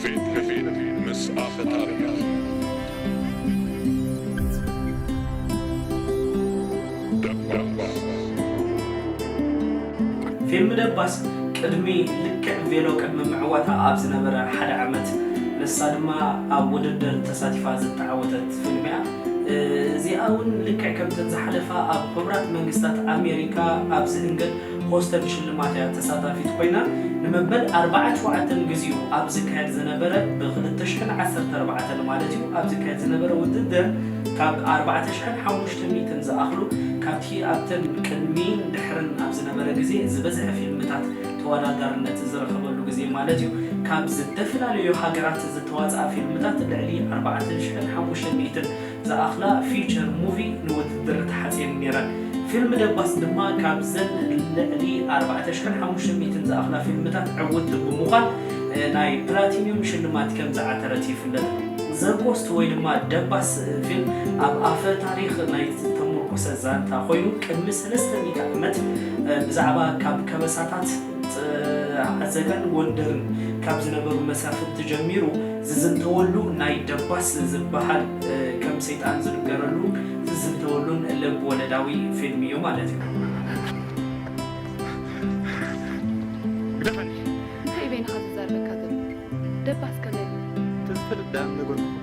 ፊት ንፊት ምስ ኣፈ ታሪኽ። ደባስ። ፊልም ደባስ ቅድሚ ልክዕ ቬሎ ቅድሚ ምዕዋታ ኣብ ዝነበረ ሓደ ዓመት ንሳ ድማ ኣብ ውድድር ተሳቲፋ ዝተዓወተት ፊልም'ያ። እዚኣ'ውን ልክዕ ከምተን ዝሓለፋ ኣብ ሕቡራት መንግስታት ኣሜሪካ ኣብ ዝእንገድ ሆስተን ሽልማት እያ ተሳታፊት ኮይና ንመበል ኣርብዓን ሸውዓተን ግዚኡ ኣብ ዝካየድ ዝነበረ ብ ክልተ ሽሕን ዓሰርተ ኣርባዕተን ማለት እዩ ኣብ ዝካየድ ዝነበረ ውድድር ካብ ኣርባዕተ ሽሕን ሓሙሽተ ሚእትን ዝኣኽሉ ካብቲ ኣብተን ቅድሚን ድሕርን ኣብ ዝነበረ ግዜ ዝበዝሐ ፊልምታት ተወዳዳርነት ዝረኸበሉ ግዜ ማለት እዩ ካብ ዝተፍላለዩ ሃገራት ዝተዋጽኣ ፊልምታት ልዕሊ ኣርባዕተ ሽሕን ሓሙሽተ ሚእትን ዝኣኽላ ፊቸር ሙቪ ንውድድር ተሓጽየን ነይረን። ፊልም ደባስ ድማ ካብዘን ልዕሊ ኣርባዕተ ሽሕን ሓሙሽተ ሚእትን ዝኣኽላ ፊልምታት ዕውቲ ብምዃን ናይ ፕላቲንዩም ሽልማት ከም ዝዓተረት ይፍለጥ። ዘ ጎስት ወይ ድማ ደባስ ፊልም ኣብ ኣፈ ታሪኽ ናይ ዝተሙርኮሰ ዛንታ ኮይኑ ቅድሚ ሰለስተ ሚእቲ ዓመት ብዛዕባ ካብ ከበሳታት፣ ዓዘጋን ጎንደርን ካብ ዝነበሩ መሳፍንቲ ጀሚሩ ዝዝንተወሉ ናይ ደባስ ዝበሃል ከም ሰይጣን ዝንገረሉን ዝዝንተወሉን ልብ ወለዳዊ ፊልም እዩ ማለት እዩ። ግደፈኒ! እንታይ በይንኻ ዝዛር ለካ ዝብል ደባስ ከመይ ኢሉ? ተዝፈልጥ ደኣ ምነገርኩኹም።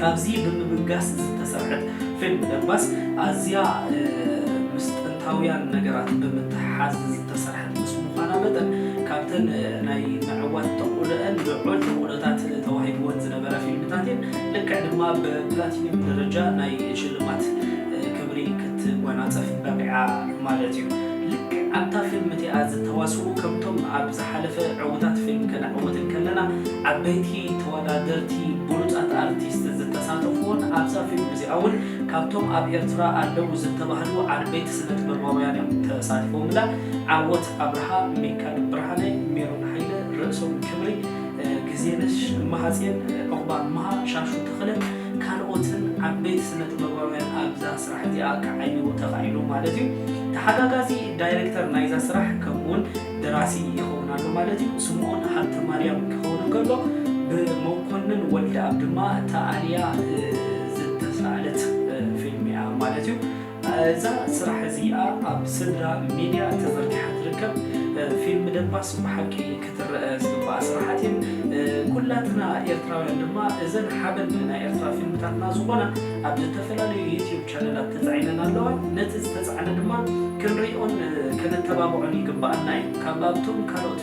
ካብዚ ብምብጋስ ዝተሰርሐት ፊልም ደባስ ኣዝያ ምስጥር መዓልታውያን ነገራት ብምትሕሓዝ ዝተሰርሐት ምስ ምዃና መጠን፣ ካብተን ናይ ምዕዋት ተኽእሎኣን ልዑል ተኽእሎታት ተዋሂብወን ዝነበራ ፊልምታት እየን። ልክዕ ድማ ብፕላቲንዩም ደረጃ ናይ ሽልማት ክብሪ ክትጓናጸፍ በቒዓ ማለት እዩ። ልክዕ ኣብታ ፊልም እቲኣ ዝተዋስኡ ከምቶም ኣብ ዝሓለፈ ዕውታት ፊልም ከነዕውት እንከለና ዓበይቲ ተወዳደርቲ ብሉጻት ኣርቲስት ዝተሳተፉዎን ኣብዛ ፊልም እዚኣ እውን ካብቶም ኣብ ኤርትራ ኣለዉ ዝተባህሉ ዓበይቲ ስነ-ጥበባውያን እዮም ተሳቲፎምላ። ዓወት ኣብርሃ፣ ሚካል ብርሃነ፣ ሜሮን ሃይለ፣ ርእሶም ክብሪ፣ ግዜነሽ እማሃጼን፣ ዑቕባ እማሃ፣ ሻሹ ተኽለን ካልኦትን ዓበይቲ ስነ-ጥበባውያን ኣብዛ ስራሕ እዚኣ ክዓይው ተኻኢሉ ማለት እዩ። ተሓጋጋዚ ዳይረክተር ናይዛ ስራሕ ከምኡውን ደራሲ ይኸውን ኣሎ ማለት እዩ። ስምኦን ሃብተማርያም ክኸውን እንከሎ ብመኮንን ወልደኣብ ድማ ተኣልያ። ዝተሳኣለት ፊልም እያ ማለት እዩ። እዛ ስራሕ እዚኣ ኣብ ስድራ ሚድያ ተዘርጊሓ ትርከብ ፊልም ደባስ ብሓቂ ክትረኣ ዝግባኣ ስራሓት እየን። ኩላትና ኤርትራውያን ድማ እዘን ሓበን ናይ ኤርትራ ፊልምታትና ዝኾና ኣብ ዝተፈላለዩ ዩትዩብ ቻነላት ተጻዒነን ኣለዋ። ነቲ ዝተጻዕነ ድማ ክንሪኦን ከነተባብዖን ይግባኣና እዩ። ካብ ኣብቶም ካልኦት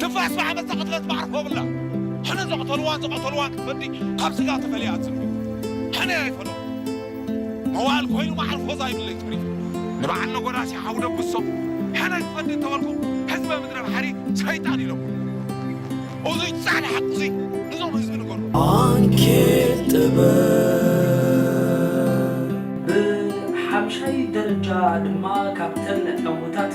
ትንፋስ ብዓመጻ ቅትለት ማዕርፎ የብላን ሕነ ዘቕተልዋን ዝቐተልዋን ክትፈዲ ካብ ስጋ ተፈልያ ኣትጽንብል ሕነ ኣይፈለዎ መዋእል ኮይኑ ማዕርፎ ዛይብለይ ተሪፉ ንበዓል ነጎዳሲ ሓው ደብሶ ሕነ ክፈዲ እንተበልኩ ህዝበ ምድረ ባሕሪ ሰይጣን ኢሎሞ እዙይ ጻዕዳ ሓቂ እዙይ ንዞም ህዝቢ ንገሩ ዓንኬል ጥበብ ብሓምሻይ ደረጃ ድማ ካብተን ዕውታት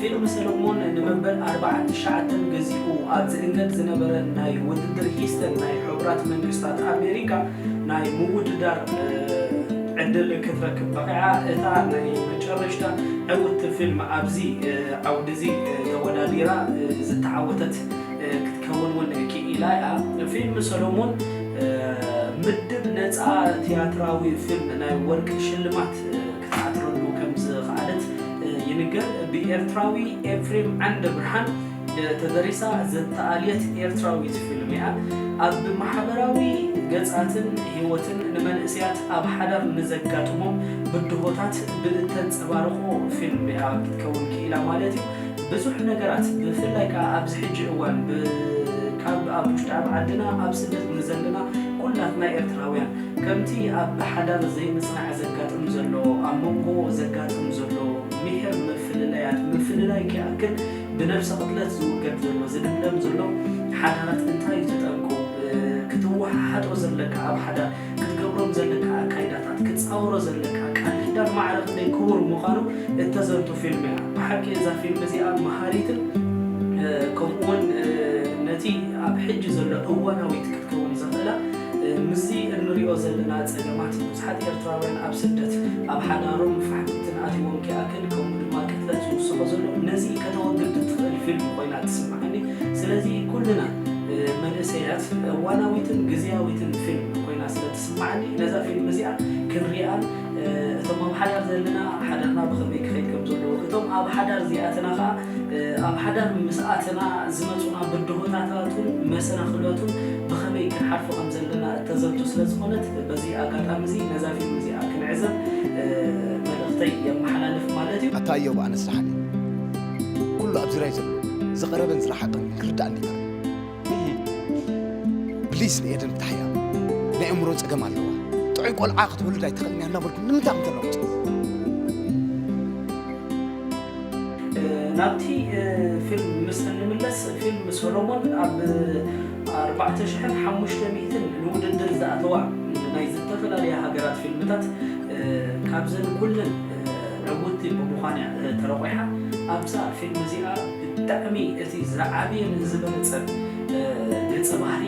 ፊልም ሰለሞን ንመበል ኣርባዓን ትሽዓተን ገዚፉ ኣብ ዝእንገድ ዝነበረ ናይ ውድድር ሂስተን ናይ ሕቡራት መንግስታት ኣሜሪካ ናይ ምውድዳር ዕድል ክትረክብ በቒዓ። እታ ናይ መጨረሽታ ዕውትቲ ፊልም ኣብዚ ዓውዲ'ዚ ተወዳዲራ ዝተዓወተት ክትከውን እውን ክኢላ እያ። ፊልም ሰሎሞን ምድብ ነጻ ትያትራዊ ፊልም ናይ ወርቂ ሽልማት ክትዓትረሉ ከምዝኸኣለት ይንገር። ብኤርትራዊ ኤፍሬም ዓንደብርሃን ተደሪሳ ዝተኣልየት ኤርትራዊት ፊልም እያ። ኣብ ማሕበራዊ ገጻትን ህይወትን ንመንእሰያት ኣብ ሓዳር ንዘጋጥሞም ብድሆታት ብእተንጸባርቖ ፊልም እያ ክትከውን ክኢላ ማለት እዩ። ብዙሕ ነገራት ብፍላይ ከኣ ኣብዚ ሕጂ እዋን ብ ካብ ኣብ ውሽጢ ኣብ ዓድና ኣብ ስደት ንዘለና ኩላትና ኤርትራውያን ከምቲ ኣብ ብሓዳር ዘይምጽናዕ ዘጋጥም ዘሎ ኣብ መንጎ ዘጋጥም ዘሎ ሚሒር ምፍልለያት ምፍልላይ ክይኣክል ብነብሰ ቅትለት ዝውገድ ዘሎ ዝልምለም ዘሎ ሓዳራት እንታይ እዩ እቲ ጠንቁ ክትወሓሓጦ ዘለካ ኣብ ሓዳር ክትገብሮም ዘለካ ኣካይዳታት፣ ክትጻውሮ ዘለካ ቃል ኪዳን ማዕረ ክንደይ ክቡር ምዃኑ እተዘንቱ ፊልም እያ። ብሓቂ እዛ ፊልም እዚኣ መሃሪትን ከምኡ ውን ነቲ ኣብ ሕጂ ዘሎ እዋናዊት ክትከውን ዘኽእላ ምስዚ እንሪኦ ዘለና ጸገማት ብዙሓት ኤርትራውያን ኣብ ስደት ኣብ ሓዳሮም ፋሕፍትን ኣትይዎም ኪኣክል ከምኡ ድማ ቅትለት ዝውስኾ ዘሎ ነዚ ከተወግድ እትኽእል ፊልም ኮይና ትስማዓኒ። ስለዚ ኩልና መንእሰያት እዋናዊትን ግዝያዊትን ፊልም ኮይና ስለ ትስማዓኒ ነዛ ፊልም እዚኣ ክንሪኣን እቶም ኣብ ሓዳር ዘለና ሓዳርና ብኸመይ ክኸይድ ከም ዘለዎ እቶም ኣብ ሓዳር ዘይኣተና ከኣ ኣብ ሓዳር ምስ ኣተና ዝመጹና ብድሆታታቱን መሰናኽላቱን ብኸመይ ክንሓልፎ ከም ዘለና እተዘንቱ ስለ ዝኾነት በዚ ኣጋጣሚ እዚ ነዛ ፊልም እዚኣ ክንዕዘብ መልእኽተይ የመሓላልፍ ማለት እዩ። ኣታ እዮብ ኣነስ ደሓን እየ። ኩሉ ኣብ ዙርያይ ዘሎ ዝቐረበን ዝረሓቐን ክርዳእኒ ይኽእል ፕሊስ ንኤደን ፍታሕያ ናይ እምሮ ፀገም ኣለዋ ጥዑይ ቆልዓ ክትወልድ ኣይትኽእልን እያ እናበልኩ ንምንታይ ከም ተለውጥ ናብቲ ፊልም ምስ እንምለስ ፊልም ሰሎሞን ኣብ ኣርባዕተ ሽሕን ሓሙሽተ ሚእትን ንውድድር ዝኣተዋ ናይ ዝተፈላለያ ሃገራት ፊልምታት ካብዘን ኩለን ዕውቲ ብምዃን እያ ተረቑሓ ኣብዛ ፊልም እዚኣ ብጣዕሚ እቲ ዝዓበየን ዝበለጸን ገጸ ባህሪ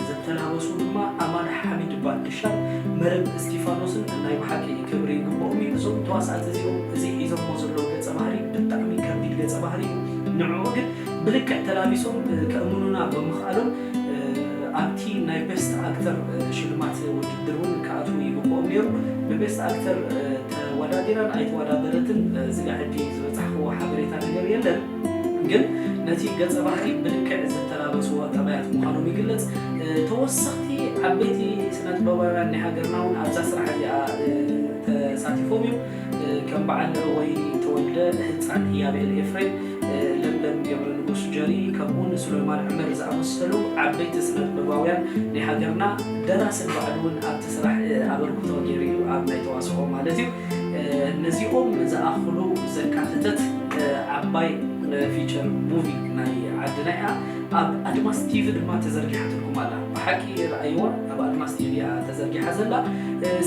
ዝተላበሱ ድማ ኣማን ሓሚድ ባንድሻን መረብ እስቲፋኖስን ናይ ብሓቂ ክብሪ ይግብኦም እዩ እዞም ተዋሳእቲ እዚኦም እዚ ሒዞሞ ዘለዉ ገጸ ባህሪ ብጣዕሚ ከቢድ ገጸ ባህሪ እዩ ንዕዑ ግን ብልክዕ ተላቢሶም ከእምኑና ብምኽኣሎም ኣብቲ ናይ ቤስት ኣክተር ሽልማት ውድድር እውን ክኣትው ይግበኦም ነይሩ። ብቤስት ኣክተር ተወዳዲራን ኣይተወዳደረትን ስጋዕ ሕጂ ዝበጻሕክዎ ሓበሬታ ነገር የለን። ግን ነቲ ገጸ ባህሪ ብልክዕ ዝተላበስዎ ጠባያት ምዃኖም ይግለጽ። ተወሰኽቲ ዓበይቲ ስነጥበባውያን ናይ ሃገርና እውን ኣብዛ ስራሕ እዚኣ ተሳቲፎም እዮም። ከም በዓል ወይኒ ተወልደ፣ ህጻን ህያብኤል ኤፍሬም፣ ለምለም ገብረንጉስ ጀሪ፣ ከምኡ'ውን ሱለይማን ዑመር ዝኣመሰሉ ዓበይቲ ስነጥበባውያን ናይ ሃገርና፣ ደራሲ ንባዕሉ'ውን ኣብቲ ስራሕ ኣበርክቶ ጌሩ'ዩ፣ ኣብ ናይ ተዋስኦ ማለት'ዩ። ነዚኦም ዝኣኽሉ ዘካተተት ዓባይ ፊቸር ሙቪ ናይ ዓድና'ያ፣ ኣብ ኣድማስ ቲቪ ድማ ተዘርጊሓትልኩም ኣላ። ብሓቂ ርኣይዋ። ኣብ ኣድማስ ቲቪ እያ ተዘርጊሓ ዘላ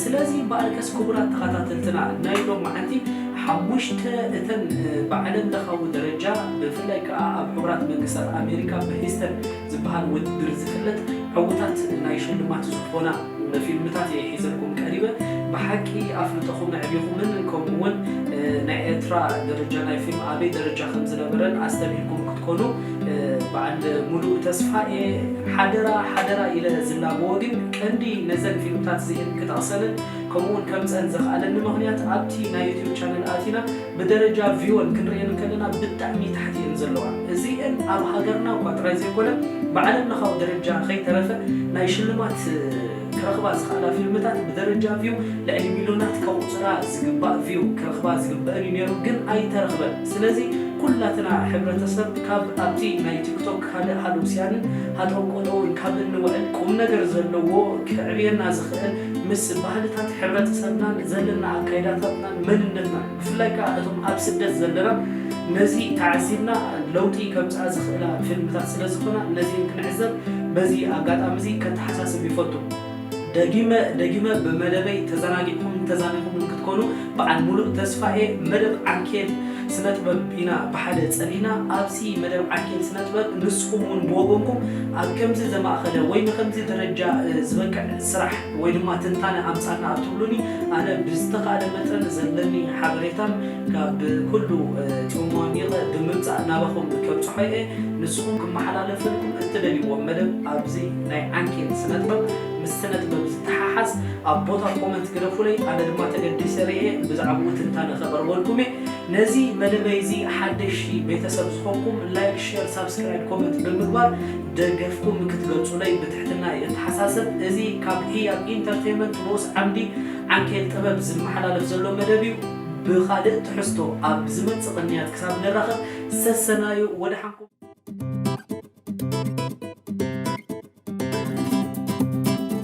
ስለዚ እምበኣርከስ ክቡራት ተኻታተልትና ናይ ሎም መዓልቲ ሓሙሽተ እተን ብዓለም ለኻዊ ደረጃ ብፍላይ ከኣ ኣብ ሕቡራት መንግስታት ኣሜሪካ ብሂስተን ዝበሃል ውድድር ዝፍለጥ ዕውታት ናይ ሽልማት ዝኾና ፊልምታት እየ ሒዘልኩም ቀሪበ ብሓቂ ኣፍልጦኹም ኣዕቢኹምን ከምኡ ውን ናይ ኤርትራ ደረጃ ናይ ፊልም ኣበይ ደረጃ ከምዝነበረን ኣስተብሂልኩም ክትኮኑ በዓል ሙሉእ ተስፋ'የ ሓደራ ሓደራ ኢለ ዝላበዎ ግን ቀንዲ ነዘን ፊልምታት እዚኤን ክጠቕሰለን ከምኡ'ውን ከምጸን ዘኽኣለኒ ምኽንያት ኣብቲ ናይ ዩቱብ ቻነል ኣቲና ብደረጃ ቪወን ክንርእየን እንከለና ብጣዕሚ ታሕቲ እየን ዘለዋ እዚኤን ኣብ ሃገርና'ኳ ጥራይ ዘይኮነ ብዓለምለኻዊ ደረጃ ከይተረፈ ናይ ሽልማት ክረኽባ ዝኽኣላ ፊልምታት ብደረጃ ቪው ልዕሊ ሚልዮናት ከቑጽራ ዝግባእ ቪው ክረኽባ ዝግበእን እዩ ኔሩ ግን ኣይተረኽበን ስለዚ ኩላትና ሕብረተሰብ ካብ ኣብቲ ናይ ቲክቶክ ካልእ ሃለውስያንን ሃጠውቀጠውን ካብ እንውዕል ቁምነገር ዘለዎ ከዕብየና ዝኽእል ምስ ባህልታት ሕብረተሰብናን ዘለና ኣካይዳታትናን መንነትናን ብፍላይ ከኣ እቶም ኣብ ስደት ዘለና ነዚ ተዓዚብና ለውጢ ከምጽኣ ዝኽእላ ፊልምታት ስለ ዝኾና ነዚኤን ክንዕዘብ በዚ ኣጋጣሚ እዚ ከተሓሳስብ ይፈቱ። ደጊመ ደጊመ ብመደበይ ተዘናጊዕኩምን ተዛኒኹምን ክትኮኑ በዓል ሙሉእ ተስፋ እየ። መደብ ዓንኬል ስነጥበብ ኢና ብሓደ ጸሊና። ኣብዚ መደብ ዓንኬል ስነጥበብ ንስኹም እውን ብወገንኩም ኣብ ከምዚ ዘማእኸለ ወይ ንኸምዚ ደረጃ ዝበቅዕ ስራሕ፣ ወይ ድማ ትንታነ ኣምጻልና ኣትብሉኒ ኣነ ብዝተኻእለ መጠን ዘለኒ ሓበሬታን ካብ ኩሉ ጽምዋሚቐ ብምምጻእ ናባኹም ከብጽሖ እየ። ንስኹም ክመሓላለፈልኩም እትደልይዎ መደብ ኣብዚ ናይ ዓንኬል ስነጥበብ ምስ ስነጥበብ ዝተሓሓዝ ኣብ ቦታ ኮመንት ግደፉለይ ኣነ ድማ ተገዲሰ ርእየ ብዛዕብኡ ትንታነ ከቕርበልኩም እየ። ነዚ መደበይ እዚ ሓደሽቲ ቤተሰብ ዝኾንኩም ላይክ ሼር ሳብስክራይብ ኮመንት ብምግባር ደገፍኩም ክትገልጹለይ ብትሕትና እየ እተሓሳሰብ። እዚ ካብ ህያብ ኢንተርተይመንት ንኡስ ዓምዲ ዓንኬል ጥበብ ዝመሓላለፍ ዘሎ መደብ እዩ። ብኻልእ ትሕዝቶ ኣብ ዝመጽእ ቅንያት ክሳብ ንራኸብ ሰሰናዩ ወደሓንኩም።